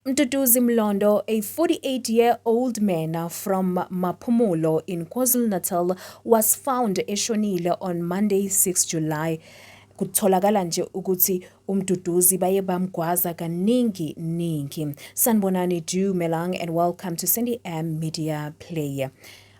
Mduduzi Mlondo, a 48-year-old man from Maphumulo in KwaZulu-Natal, was found eshonile on Monday, 6 July. Kutholakala nje ukuthi uMduduzi baye bamgwaza kaningi ningi. Sanibonani Dumelang and welcome to Sandy M Media Player.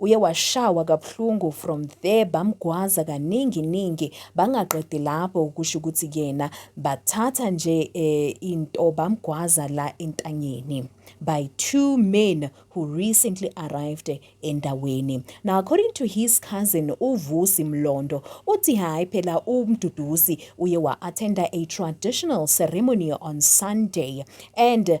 Uye washawa kabuhlungu from there bamgwaza kaningi ningi bangaqedi lapho ukusho ukuthi kuyena bathatha nje eh, into bamgwaza la entanyeni by two men who recently arrived endaweni. Now according to his cousin uVusi Mlondo uthi hayi phela uMduduzi uye wa-attenda a traditional ceremony on Sunday and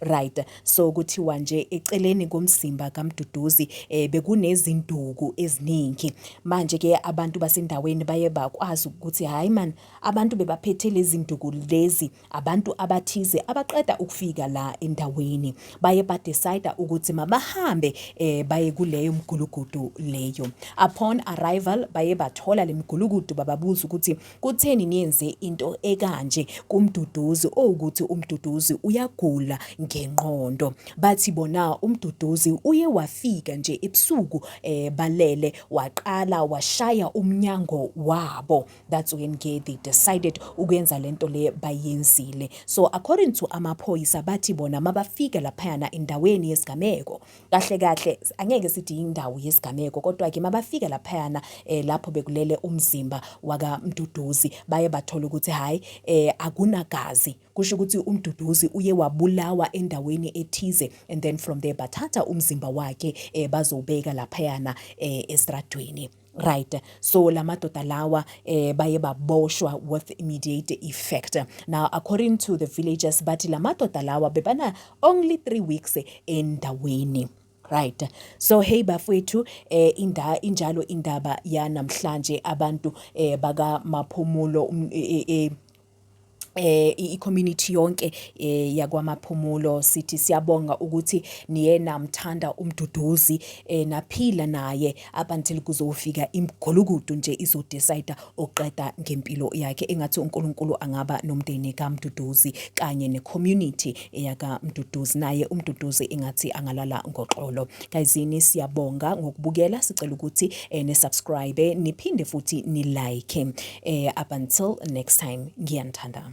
Right, so kuthiwa nje eceleni komzimba kaMduduzi eh, bekunezinduku eziningi. Manje ke abantu basendaweni baye bakwazi ukuthi hayi man, abantu bebaphethe lezi nduku lezi, abantu abathize abaqeda ukufika la endaweni. Baye badecide ukuthi mabahambe eh, baye kuleyo mgulukudu leyo. Upon arrival baye bathola le mgulukudu bababuza ukuthi Kutheni niyenze into ekanje kuMduduzi owukuthi uMduduzi uyagula ngenqondo? Bathi bona uMduduzi uye wafika nje ebusuku eh balele waqala washaya umnyango wabo. That's when ke they decided ukwenza lento le bayenzile. So according to amaphoyisa bathi bona mabafika laphayana endaweni yesigameko Kahle kahle angeke sithi indawo yesigameko kodwa ke mabafika laphayana eh, lapho bekulele umzimba waka Mduduzi baye bathola ukuthi hayi eh, akunagazi kusho ukuthi uMduduzi uye wabulawa endaweni ethize and then from there bathatha umzimba wakhe eh, bazowubeka laphayana eh, estradweni Right. So la madoda lawa eh baye baboshwa with immediate effect. Now according to the villagers bathi la madoda lawa bebana only 3 weeks endaweni. Right. So hey bafwethu eh inda injalo indaba yanamhlanje abantu eh baka maphumulo um, eh, eh, eh eh i-community yonke eh yakwamaphumulo sithi siyabonga ukuthi niye namthanda umduduzi eh naphila naye up until kuzofika imgulukudu nje izodecide oqeda ngempilo yakhe engathi uNkulunkulu angaba nomndeni kaMduduzi kanye necommunity eyaka Mduduzi naye uMduduzi ingathi angalala ngoxolo kayizini siyabonga ngokubukela sicela ukuthi eh, ni subscribe niphinde futhi ni like eh, up until next time ngiyanithanda